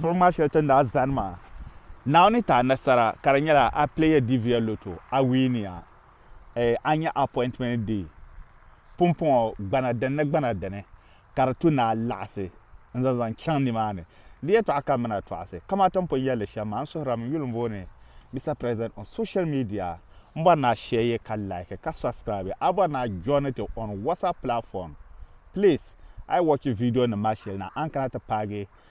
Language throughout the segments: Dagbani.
Buɣum maa shɛli ti ni daa zani maa, Naawuni ni ti a nasara ka di nyɛla a pileeya Divia Lotto, a wiiniya, eh, a nya appointment di pumpɔŋɔ gbana dini ni gbana dini ka di tu ni a laɣisi n-zaŋ zaŋ chaŋ nimaani. Di yɛtɔɣa ka m mini a tɔɣisi, kamani ti ni pun yɛli li shɛm maa, n suhirila m yuli m-booni Mister President on social media. M bɔri ni a shɛye ka like ka subscribe. A bɔri ni a joini ti on WhatsApp platform. Please, a yi wɔchi viidionima maa shɛli na, a ni kana ti paagi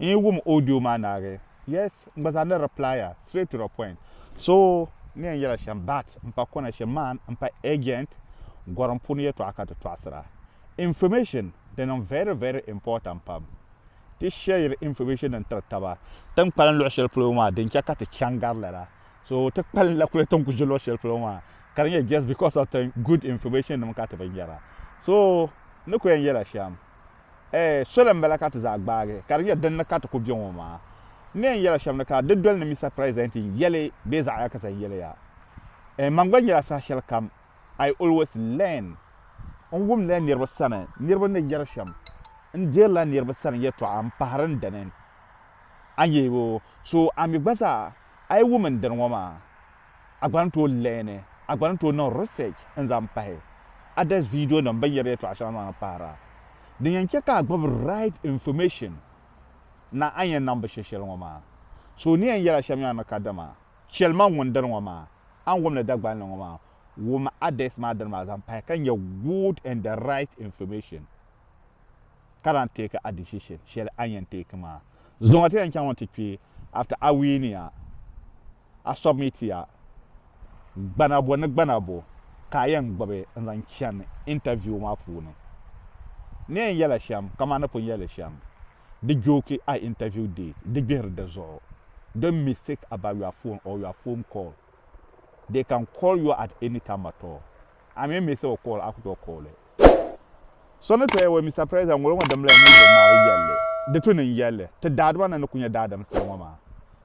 N yi wum audio maa naagi yes n gba zaa ni reply a straight to the point so ni yɛn yɛla shɛm but n pa connection man n pa agent gorim puuni yɛtɔɣa ka ti tɔɣisira information di niŋ very very important pam ti share information din tiri taba tin kpalim luɣi shɛli polo maa din chɛ ka ti chaŋ gari lala so ti kpalim la kuli tin ku ʒi luɣi shɛli polo maa ka di nyɛ just because of tin good information nim ka ti bi nyɛra so ni ku yɛn yɛla shɛm Ɛɛ, soli m-bala ka ti zaa gbaagi ka di nyɛ din ni ka ti ku be ŋɔ maa. N ni yɛn yɛl a shɛm ni ka di doli ni Mista Piresidɛnt n-yɛli bee zaɣ ya ka zaŋ yɛli ya. Ɛɛ, man gba nyɛla saha shɛli kam I always learn. N wumdila niriba sani niriba ni yɛri shɛm, n deerila niriba sani yɛtɔɣa m-pahiri n dini. Anyi, so a mi gba zaa a yi wum n dini ŋɔ maa. A gba ni tooi leeni, a gba ni tooi niŋ research n-zaŋ pahi a da video nim bɛ ni yɛri yɛtɔɣa shɛŋa zaŋ na pahira. Din yɛn che ka a gbubi right information na a ni yɛn niŋ bi shɛ shɛli ŋɔ maa. So o ni yɛn yɛla shɛm yaa ni kadama chɛli ma ŋun diri ŋɔ maa, a ni wum ni Dagbani ni ŋɔ maa, wum a desk maa dini maa zaŋ pahi ka nyɛ good and the right information ka lan take a decision shɛli a ni yɛn take maa. Zuŋɔ ti yɛn chaŋ mi ti kpi after a win ya. a submit ya gbana bɔ ni gbana bɔ ka a yɛn gbubi n-zaŋ chani interview maa puuni. N ni yɛn yɛl a shɛm kaman ni pun yɛl li shɛm, di jooki a interview date, di gbihiri di zuɣu. Don't mistake about your phone or your phone call. They can call you at any time at all. A mi mi so call, a ku tooi call li. So ni tooi yɛl Mister President, ŋɔlo ŋɔ dimli n-nyɛ ti Naawuni yɛlli, di tu ni n-yɛl li ti daadima ni ni ku nyɛ daadam soli ŋɔ maa.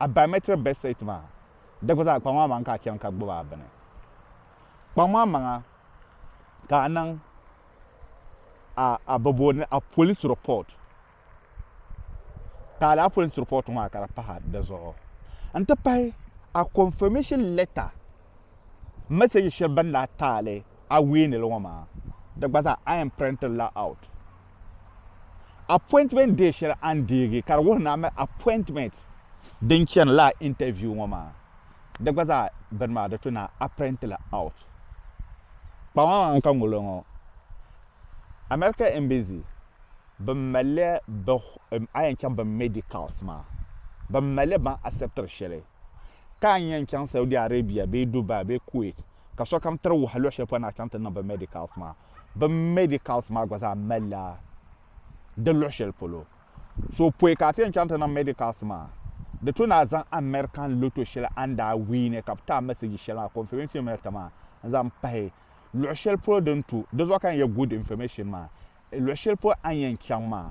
a biometric birth certificate maa di gba zaa kpaŋ maa maŋa ka a chani ka gbubi a bini kpaŋ maa maŋa ka a niŋ a a bi booni a police report ka a laa police report maa ka di pahi di zuɣu n ti pahi a confirmation letter message shɛli bin daa taali a weenili ŋɔ maa di gba zaa a yɛn print li la out Appointment day shɛli a ni deegi ka di wuhi ni a mali appointment din chani lala interview ŋɔ maa. Di gba zaa bini maa di tu ni a print li out. Kpaŋa maa n ka ŋolo ŋɔ. America Embassy bin mali li bɛ a yɛn chaŋ bɛ medicals maa bin mali li ban acceptiri shɛli ka a ni yɛn chaŋ Saudi Arabia bee Dubai bee Kuwait ka sokam tiri wahi luɣi shɛli polo ni a chaŋ ti niŋ bɛ medicals maa Bɛ medicals maa gba zaa malila di luɣi shɛli polo. So pɔi ka a ti yɛn chaŋ ti niŋ medicals maa, di to ni a zaŋ American lotto shɛli a ni daa wiini ka bɛ ti a message shɛli maa, confirmation letter maa, n-zaŋ pahi luɣi shɛli polo din tu di zuɣu ka yɛn yɛli good information maa. Luɣi shɛli polo a ni yɛn chaŋ maa,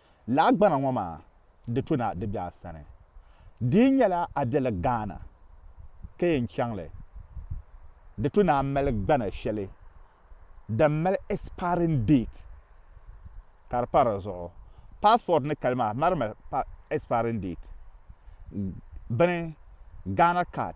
Laɣigbana ŋɔ maa di tu na di be a sani. Di yi nyɛla a be li Ghana ka yɛn chaŋ li, di tu ni a mali gbana shɛli din mali expiring date ka di pa di zuɣu. Passport ni kali maa mari mi expiring date bini Ghana card.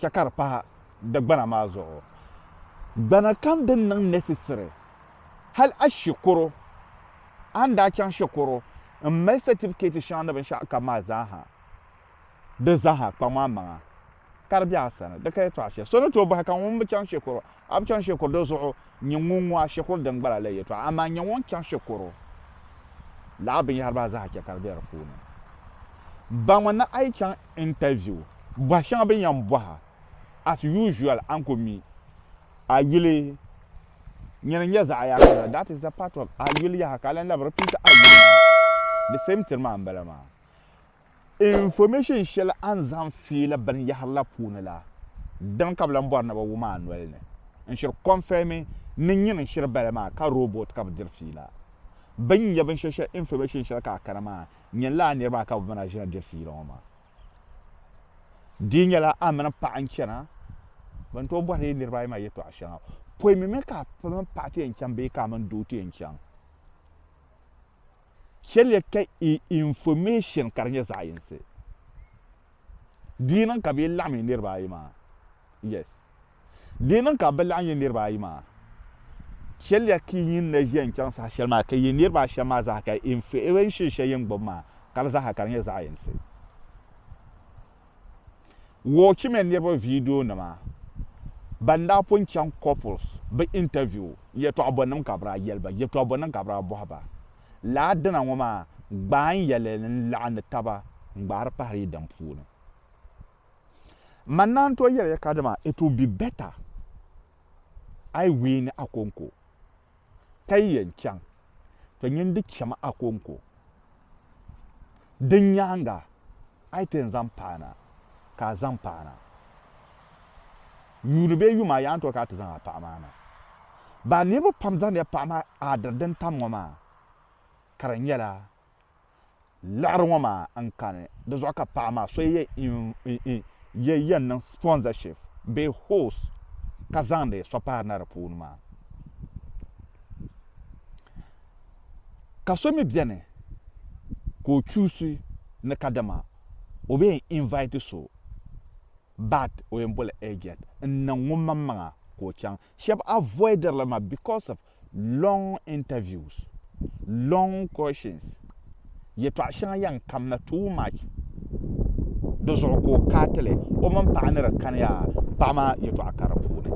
chɛ ka di pahi di gbana maa zuɣu. Gbana kam din niŋ necessary hal a shikuru, a ni daa chaŋ shikuru m-mali certificate shɛŋa ni binshɛɣu kam maa zaa ha, di zaa ha kpaŋ a maŋa ka di be a sani. Di ka yɛtɔɣ shɛli so ni tooi bɔhi ka ŋun bi chaŋ shikuru A bi chaŋ shikuru di zuɣu n-nyɛ ŋun ŋɔ a shikuru din gbala la yɛtɔɣa, amaa n-nyɛ ŋun chaŋ shikuru laɣa binyɛhiri maa zaa chɛ ka di be di puuni. Baŋmi ni a yi chaŋ interview, bɔhi shɛŋa bɛ ni yɛn bɔhi a, as usual a ni ku mi a yuli nyini n-nyɛ zaɣa yaha la, that is the part of a yuli yaha ka a lan labi repeat a yuli maa, the same thing maa m-bala maa. Information shɛli a ni zaŋ fiila binyɛhiri la puuni la, dini ka bɛ lan bɔri ni bɛ wum a noli ni n-shiri kɔnfɛmi ni nyini n-shiri bali maa ka rooboti ka bɛ diri fiila. Bɛ ni nya binshɛli shɛli information shɛli ka a kana maa nyini la a niriba maa ka bɛ mini a ʒina diri fiila ŋɔ maa. Di nyɛla a mini paɣa n-chana, bɛ ni tooi bɔhiri yi niriba ayi maa yɛtɔɣ shɛŋa pɔi mi mi ka a mini paɣa ti yɛn chaŋ bee ka a mini doo ti yɛn chaŋ. Shɛliya ka i information ka di nyɛ zaɣ yinsi. Di yi niŋ ka bɛ yi laɣim yi niriba ayi maa, yes. Di yi niŋ ka bɛ laɣim yi niriba ayi maa, shɛliya ka yi ni ʒiya n-chaŋ saha shɛli maa ka yi niriba ashɛm maa zaa ka information shɛli yi ni gbubi maa ka di zaa ha ka di nyɛ zaɣ yinsi. Woochi mini niriba viidiyo nima ban daa pun chaŋ couples bɛ interview yɛtɔɣa bɔnim ka bɛ daa yɛli ba yɛtɔɣa bɔnim ka bɛ daa bɔhi ba. Lala dina ŋɔ maa gbaai yɛli n-laɣindi taba n-gbaari pahiri yi din puuni. Manna n-tooi yɛli ya kadama it will be better a yi win Akonko. ka yi yɛn chaŋ, to nyin n-di cham a kɔŋko. Din nyaaŋa, a yi ti yɛn zaŋ paana, ka a zaŋ paana yuuni bee yuma a yaa n-tɔri ka a ti zaŋ a paɣa maa na. Baa niriba pam zaŋdiya paɣa maa aadiri din tam ŋɔ maa, ka di nyɛla. liɣiri ŋɔ maa n kani di zuɣu ka paɣa maa so yɛ yɛn niŋ sponsorship bee host ka zaŋdi so pahi na di puuni maa ka so mi bɛni ka o chuusi ni ka dama o bɛ yɛn invite so but o yɛn boli agent n niŋ ŋun maŋ maŋa ka o chaŋ Shɛb avoider li maa because of long interviews, long questions, yɛtɔɣ shɛŋa yɛn kamna too much di zuɣu ka o kaa ti li o mini paɣa ni di kani yaa paɣa maa yɛtɔɣa ka di puuni,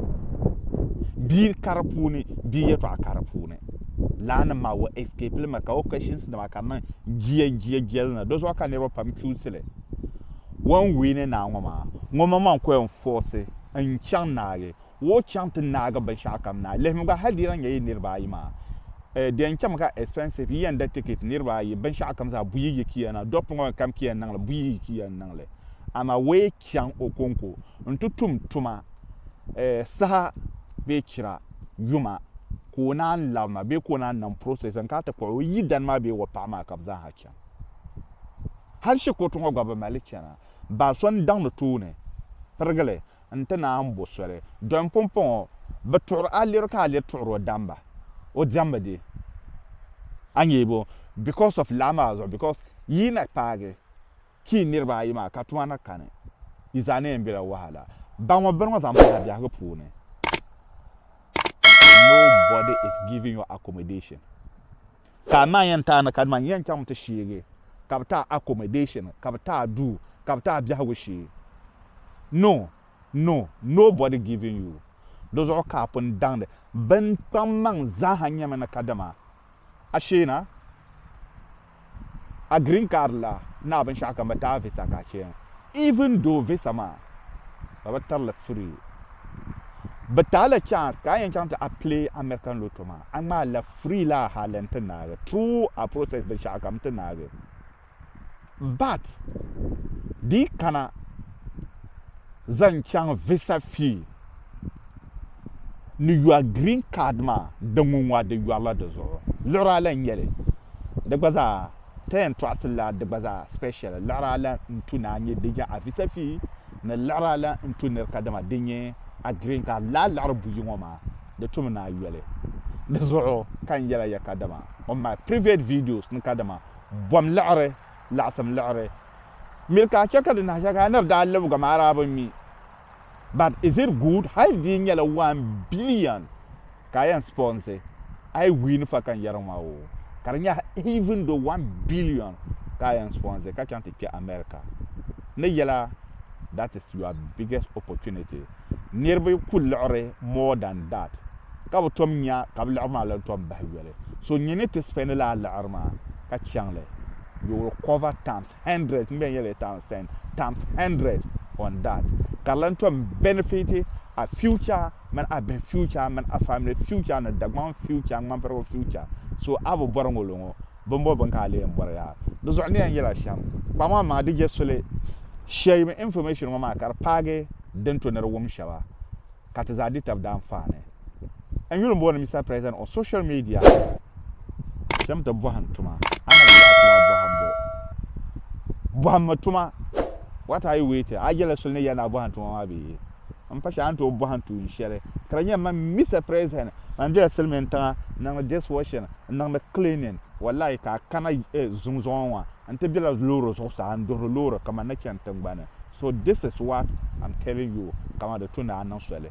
bia ka di puuni, bia yɛtɔɣa ka di puuni. Laanim maa o escape li mi ka o questions nima ka niŋ jia jia jia li na di zuɣu ka niriba pam choose li. Wan win ni naa ŋɔ maa ŋɔ man man ku yɛn force n chaŋ naagi Wo chaŋ ti naagi binshɛɣu kam na. Lihimi gba, hal di lan nyɛ yi niriba ayi maa, di yɛn chɛmi ka expensive, yi yɛn da ticket niriba ayi binshɛɣu kam zaa buyi yi kiya na. Dɔɣi piŋɔ kam kiya n-niŋ li, buyi yi kiya n-niŋ li. Amaa wo yi chaŋ Okonko nti tum tuma saha bee chira yuma ka o naan labi ma bee ka o naan niŋ process n-kana ti kpuɣi o yidana maa bee wo paɣa maa ka bɛ zaa ha chani. Hal shikuru ti ŋɔ gba bɛ mali li chana. Baa so n-daŋdi tooni pirigili n-ti naan bo soli. Dɔni pumpɔŋɔ, bɛ tuɣiri a liri ka a liri tuɣiri o damba. O diɛmbu di a nyee bo? Because of laa maa zuɣu because yi yi na paagi ti yi niriba ayi maa ka tuma na kani, yi zaa ni yɛn bela wahala. Ba ŋɔ bini ŋɔ zaŋ bahi a biɛhigu puuni. Nobody is giving you accommodation. Ka a naa yɛn ti a ni kanima n yɛn chaŋ ti sheegi ka bi ti a accommodation, ka bi ti a duu, ka bi ti a biɛhigu shee. No, no, nobody giving you. Di zuɣu ka a pun daŋdi bini kpaŋ maŋ zaaha nyɛmi ni kadama a shee na, a green card la ni a binshɛɣukam bi ti a visa ka a chɛn even though visa maa bɛ bi tiri li free. Bi taai la chance ka a yɛn chaŋ ti a play American Lotto maa, a ŋmaai la free laa hali n ti naagi through a process binshɛɣu kam n ti naagi. But di yi kana zaŋ chaŋ visa fee ni your green card maa di ŋunwa di yɔrila di zuɣu. Liɣiri ala n nyɛli. Di gba zaa ti yɛn tɔɣisiri la di gba zaa special. Liɣiri ala n tu ni a nyɛ di nya a visa fee ni liɣiri a lan n tu nir kadama din nyɛ a green ka a lahi liɣiri buyi ŋɔ maa di tumi ni a yoli. Di zuɣu ka n yɛla ya kadama on my previet videos ni kadama bom liɣiri, laɣisim liɣiri miri ka a chɛ ka di nahi shɛli ka a nir daa libiga maa daa bi mi but is it good hali di yi nyɛla one billion ka a yɛn sponsor a yi win fa ka n yɛri ma o ka di nyɛ even though one billion ka a yɛn sponsor ka chaŋ ti kpɛ America ni yɛla that is your biggest opportunity niriba ku liɣiri more than that ka bi tom nya ka bi liɣiri maa lan tom bahi yoli so nyini ti spend la a liɣiri maa ka chaŋli you will cover times 100 n bɛn yɛli li times 10 times 100 on that ka di lan tom benefit a future mini a bihi future mini a family future ni Dagbaŋ future ŋmanpirigu future so a bi bɔri ŋolo ŋo bin bɔ bin ka a lee n bɔri yaa di zuɣu ni yɛn yɛla shɛm kpaŋ maa maŋa di je soli share information ŋo maa ka di paagi din to ni di wum shɛba ka ti zaa di tab daa n-faani. N yuli m-booni Mister President on social media kpɛm ti bɔhim tuma, a na bi yaɣi tuma bɔhimbu. Bɔhimmi tuma, what are you waiting? A yɛla soli ni ya ni a bɔhim tuma maa bee? M pa shɛli a ni tooi bɔhim tuun shɛli. Ka di nyɛ man Mister President man bela silimiintiŋa n-niŋdi dishwashing, n-niŋdi cleaning, wallahi ka a kana zuŋ zuŋɔ ŋɔ N ti bela loori zuɣusaa n duhiri loori kaman ni chani tiŋgbani. So this is what am telling you kaman di tu ni a niŋ soli.